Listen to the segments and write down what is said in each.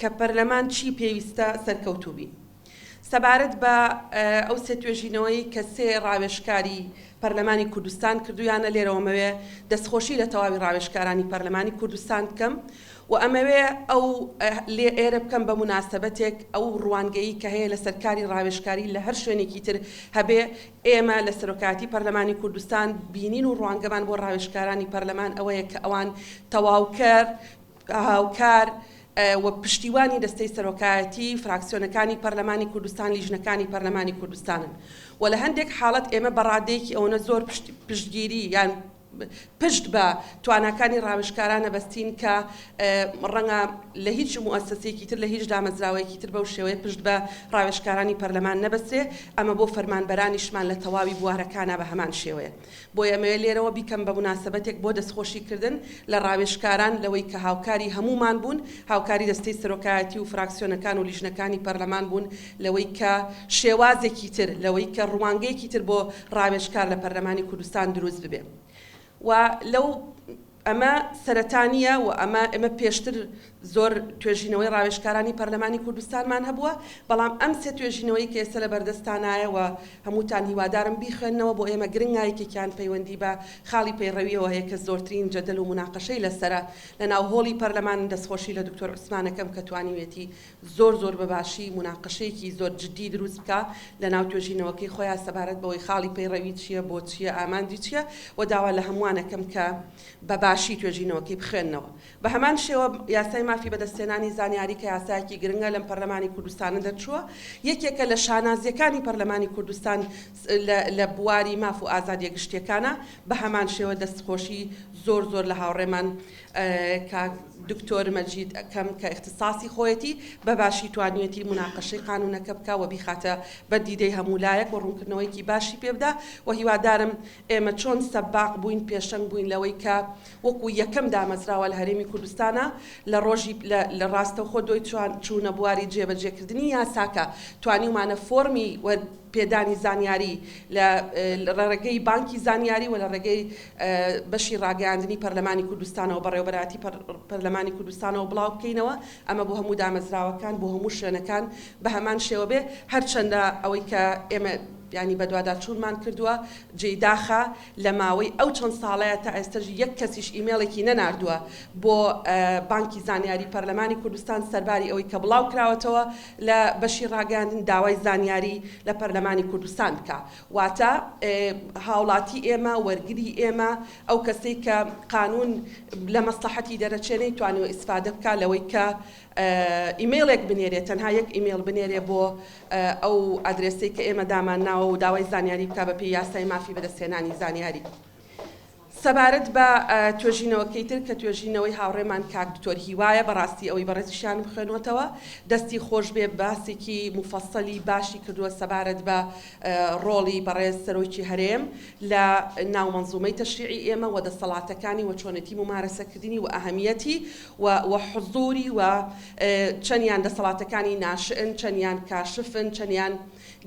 کە پەرلەمان چی پێویستە سەرکەوتوو بین. سەبارەت بە ئەو سێ توێژینەوەی کە سێ ڕاوێژکاری پەرلەمانی کوردستان کردوویانە لێرەوە مەوێ دەستخۆشی لە تەواوی ڕاوێژکارانی پەرلەمانی کوردستان بکەم و ئەمەوێ ئەو لێ ئێرە بکەم بە موناسەبەتێک ئەو ڕوانگەیی کە هەیە لە سەر کاری ڕاوێژکاری لە هەر شوێنێکی تر هەبێ ئێمە لە سەرۆکایەتی پەرلەمانی کوردستان بینین و ڕوانگەمان بۆ ڕاوێژکارانی پەرلەمان ئەوەیە کە ئەوان تەواوکەر هاوکار و پشتیوانی دەستەی سەرۆکایەتی، فراکسیۆنەکانی پەرلەمانی کوردستان، لیژنەکانی پەرلەمانی کوردستانن و لە هەندێک حاڵەت ئێمە بە ڕادەیەکی ئەوەنە زۆر پشتگیری یان پشت بە تواناکانی ڕاوێژکارانە بەستین کە ڕەنگە لە هیچ موەسەسێکی تر لە هیچ دامەزراوەیەکی تر بەو شێوەیە پشت بە ڕاوێژکارانی پەرلەمان نەبەستێ، ئەمە بۆ فەرمانبەرانیشمان لە تەواوی بوارەکانا بە هەمان شێوەیە. بۆیە ئەمەوێت لێرەوە بیکەم بە موناسەبەتێک بۆ دەستخۆشیکردن لە ڕاوێژکاران لەوەی کە هاوکاری هەموومان بوون، هاوکاری دەستەی سەرۆکایەتی و فراکسیۆنەکان و لیژنەکانی پەرلەمان بوون لەوەی کە شێوازێکی تر، لەوەی کە ڕوانگەیەکی تر بۆ ڕاوێژکار لە پەرلەمانی کوردستان دروست ببێ و لەو ئەمە سەرەتا نییە و ئەمە ئێمە پێشتر زۆر توێژینەوەی ڕاوێژکارانی پەرلەمانی کوردستانمان هەبووە، بەڵام ئەم سێ توێژینەوەی کە ئێستا لە بەردەستتانایە و هەمووتان هیوادارم بیخوێننەوە بۆ ئێمە گرنگە، یەکێکیان پەیوەندی بە خاڵی پەیڕەوییەوە هەیە کە زۆرترین جەدەل و موناقەشەی لەسەرە لەناو هۆڵی پەرلەمان، دەستخۆشی لە دکتۆر عوسمانەکەم کە توانیویەتی زۆر زۆر بە باشی موناقەشەیەکی زۆر جدی دروست بکا لە ناو توێژینەوەکەی خۆیا سەبارەت بەوەی خاڵی پەیڕەوی چیە بۆ چیە ئامانجی چیە وە داوا لە هەمووان ئەکەم کە بە باشی توێژینەوەکەی بخوێننەوە بە هەمان شێوە یاسای مافی بەدەستهێنانی زانیاری کە یاسایەکی گرنگە لەم پەرلەمانی کوردستانە دەرچووە یەکێکە لە شانازیەکانی پەرلەمانی کوردستان لە بواری ماف و ئازادیە گشتیەکانە بە هەمان شێوە دەست خۆشی زۆر زۆر لە هاوڕێمان کاک دکتۆر مەجید ئەکەم کە ئیختساسی خۆیەتی بە باشی توانیوێتی موناقەشەی قانوونەکە بکا و بیخاتە بەر دیدەی هەموو لایەک و ڕوونکردنەوەیەکی باشی پێ بدا و هیوادارم ئێمە چۆن سەباق بووین پێشەنگ بووین لەوەی کە وەکوو یەکەم دامەزراوە لە هەرێمی کوردستانا لە ڕۆژی لە ڕاستەوخۆ دوای چوونە بواری جێبەجێ کردنی یاساکە توانیومانە فۆڕمی وەر پێدانی زانیاری لە ڕێگەی بانکی زانیاری و لە ڕێگەی بەشی ڕاگەیاندنی پەرلەمانی کوردستانەوە بەڕێوەبەرایەتی پەرلەمانی کوردستانەوە بڵاو بکەینەوە ئەمە بۆ هەموو دامەزراوەکان بۆ هەموو شوێنەکان بە هەمان شێوە بێ هەرچەندە ئەوەی کە ئێمە ینی بەدواداچوونمان کردووە جێی داخە لە ماوەی ئەو چەند ساڵەیە تا ئێستش یەک کەسیش ئیمێڵێکی نەناردووە بۆ بانکی زانیاری پەرلەمانی کوردستان سەرباری ئەوەی کە بڵاو کراوەتەوە لە بەشی ڕاگەاندن داوای زانیاری لە پەرلەمانی کوردستان بکە واتە هاوڵاتی ئێمە، وەرگری ئێمە، ئەو کەسەی کە قانوون لە مەسڵەحەتی دەرەچێ نەیتوانیوە ئیسفادە بکا لەوەی کە ئیمەیڵێک بنێرێ، تەنها یەک ئیمەیڵ بنێرێ بۆ ئەو ئادرێسەی کە ئێمە دامانناوە و داوای زانیاری بکا بەپێی یاسای مافی بەدەستهێنانی زانیاری. سەبارەت بە توێژینەوەکەی تر کە توێژینەوەی هاوڕێمان کاک دکتۆر هیوایە بەڕاستی ئەوەی بەڕێزیشیان بخوێنۆتەوە دەستی خۆشبێ باسێکی موفەسەلی باشی کردووە سەبارەت بە ڕۆڵی بەڕێز سەرۆکی هەرێم لە ناو مەنزومەی تەشریعی ئێمە وە دەسەڵاتەکانی وە چۆنێتی مومارەسەکردنی وە ئەهەمیەتی وە وە حزوری وە چەنیان دەسەڵاتەکانی ناشئن چەنیان کاشفن چەنیان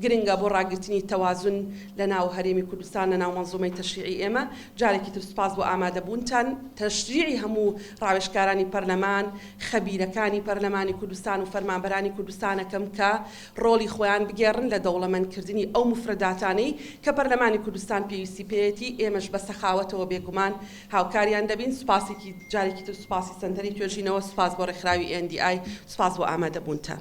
گرنگە بۆ ڕاگرتنی تەوازون لە ناو هەرێمی کوردستان لە ناو مەنزومەی تەشریعی ئێمە. جارێکی تر سوپاس بۆ ئامادە بوونتان. تەشریعی هەموو ڕاوێژکارانی پەرلەمان، خەبیرەکانی پەرلەمانی کوردستان و فەرمانبەرانی کوردستانەکەم کە ڕۆڵی خۆیان بگێڕن لە دەوڵەمەند کردنی ئەو موفرەداتانەی کە پەرلەمانی کوردستان پێویستی پێیەتی. ئێمەش بە سەخاوەتەوە بێگومان هاوکاریان دەبین. سوپاسێکی جارێکی تر سوپاسی سەنتەری توێژینەوە. سوپاس بۆ ڕێکخراوی NDI. سوپاس بۆ ئامادە بوونتان.